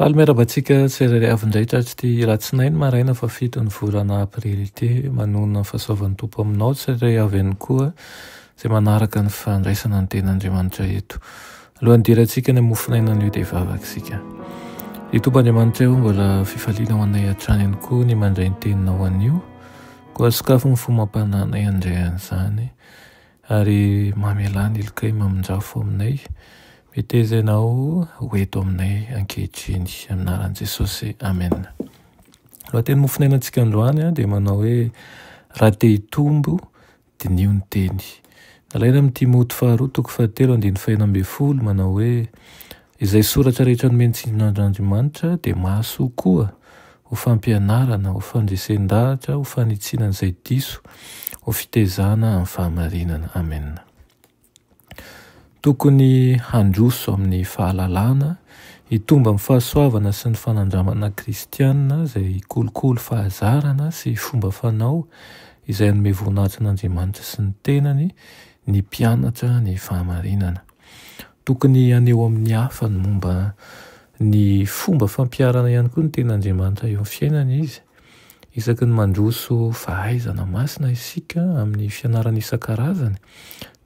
Faly miarahaba antsika tsirairay avy indray tratry'ity alatsinainy maraina fahafito ny volana aprily ity. Manonona ny fahasoavan'ny Tompo aminao tsirairay avy ihany koa izay manaraka ny fandraisana ny ten'Andriamanitra eto. Alohan'ny hidirantsika any amin'ny mofonainan'io dia hivavaka isika. Ry Tompo Andriamanitra eo mbola fifaliana ho anay hatrany ihany koa ny mandray ny teninao anio. Koa sokafy ny fo mampananay handray an'izany. Ary mamelà ny likay mamonjafo aminay, meteza ianao ho eto aminay ankehitriny, amin'ny anaran'i Jesosy, amena. Ny lohateny mofonainantsika androany dia manao hoe, Raha te hitombo, diniho ny teny. Nalaina amin'ny Timoty faharoa toko fahatelo andininy fahenina ambin'ny folo manao hoe, Izay soratra rehetra nomen'ny tsindrin'Andriamanitra dia mahasoa koa ho fampianarana, ho fandresen-dahatra, ho fanitsiana an'izay diso, ho fitezana amin'ny fahamarinana. Amena. Tokony handroso amin'ny fahalalana, hitombo amin'ny fahasoavana sy ny fanandramana kristiana izay kolikoly fahazarana sy fomba fanao izay hanome voninahitra an'Andriamanitra sy ny tenany ny mpianatra ny fahamarinana. Tokony haneho amin'ny hafa ny momba ny fomba fampiharana ihany koa ny tenin'Andriamanitra eo amin'ny fiainana izy. Isaky ny mandroso fahaizana masina isika amin'ny fianarana isan-karazany,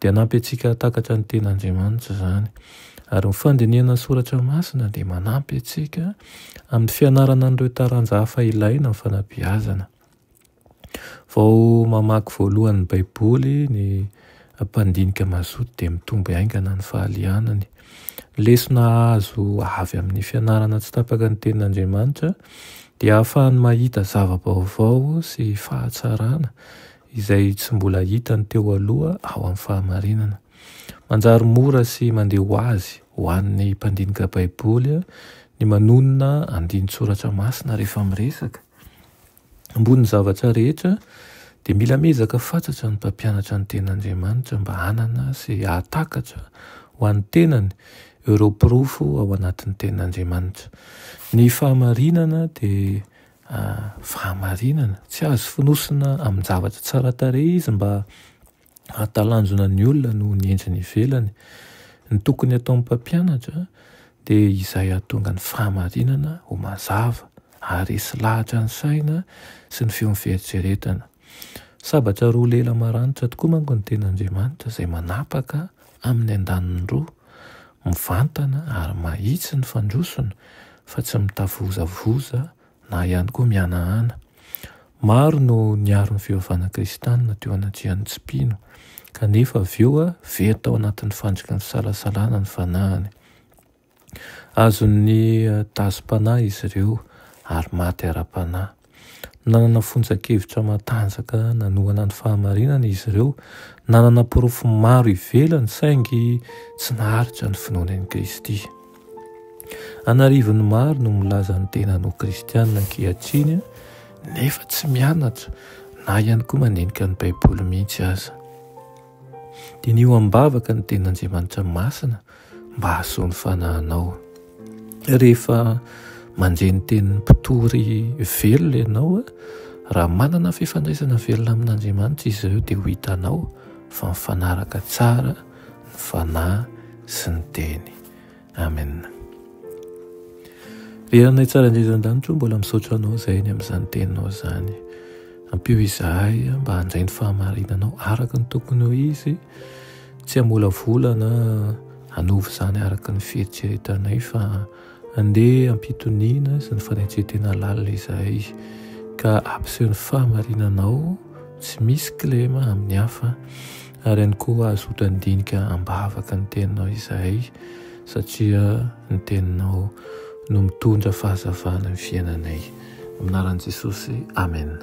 dia hanampy antsika hahatakatra ny tenin'Andriamanitra izany. Ary ny fandinihana ny soratra masina dia manampy antsika amin'ny fianarana an'ireo taranja hafa ilaina amin'ny fanabeazana. Vao mamaky voalohany ny Baiboly ny mpandinika mazoto dia mitombo haingana ny fahalianany. Ny lesona azo avy amin'ny fianarana tsy tapaka ny Tenin'Andriamanitra dia ahafahany mahita zava-baovao sy fahatsarana izay tsy mbola hitany teo aloha ao amin'ny fahamarinana. Manjary mora sy mandeha ho azy ho an'ny mpandinika Baiboly ny manonona andinin-tsoratra masina rehefa miresaka. Ambonin'ny zavatra rehetra, dia mila miezaka fatratra ny mpampianatra ny Tenin'Andriamanitra mba hanana sy hahatakatra ho an'ny tenany ireo porofo ao anatin'ny Tenin'Andriamanitra. Ny fahamarinana dia fahamarinana. Tsy azo fonosina amin-javatra tsara tarehy izy mba hahatalanjona ny olona noho ny endriny ivelany. Ny tokony hataon'ny mpampianatra dia izay hahatonga ny fahamarinana ho mazava, haharesy lahatra ny saina sy ny feon'ny fieritreretana. Sabatra roa lela maranitra tokoa manko ny Tenin'Andriamanitra izay manapaka amin'ny andaniny roa, mivantana ary mahitsy ny fandrosony fa tsy mitavozavoza. na ihany koa mihanahana. Maro no niaro ny fivavahana kristianina teo anatrehan'ny tsy mpino, kanefa avy eo very tao anatin'ny fandriky ny fisalasalana ny fanahiny. Azon'ny eh, dazim-panahy izy ireo ary maty ara-panahy. Nanana fonjan-kevitra matanjaka nanohana ny fahamarinana izy ireo, nanana porofo maro ivelany saingy tsy naharitra ny finoany an'i Kristy. An'arivony maro no milaza ny tenany ho kristiana ankehitriny nefa tsy mianatra na ihany koa mandinika ny Baiboly mihitsy aza. Diniho am-bavaka ny tenin'Andriamanitra masina mba hahasoa ny fanahinao. Rehefa mandre ny tenin'ny mpitory velona ianao, raha manana fifandraisana velona amin'Andriamanitra izy ireo dia ho hitanao fa mifanaraka tsara ny Fanahy sy ny Teny. Amen. Ry Ranay tsara indrindra an-danitra o, mbola misaotra Anao izay ny amin'izany Teninao izany. Ampio izahay mba handray ny fahamarinanao araka ny tokony ho izy, tsy hamolavolana hanovo izany araka ny fieritreretanay fa Andeha hampitoniana izany fanetren-tena lalina izahay ka hampiseho ny fahamarinanao tsy misy kilema amin'ny hafa ary ihany koa azo hotandinika am-bavaka ny teninao izahay satria ny teninao no mitondra fahazavana ny fiainanay. Amin'ny anaran'i Jesosy, amena.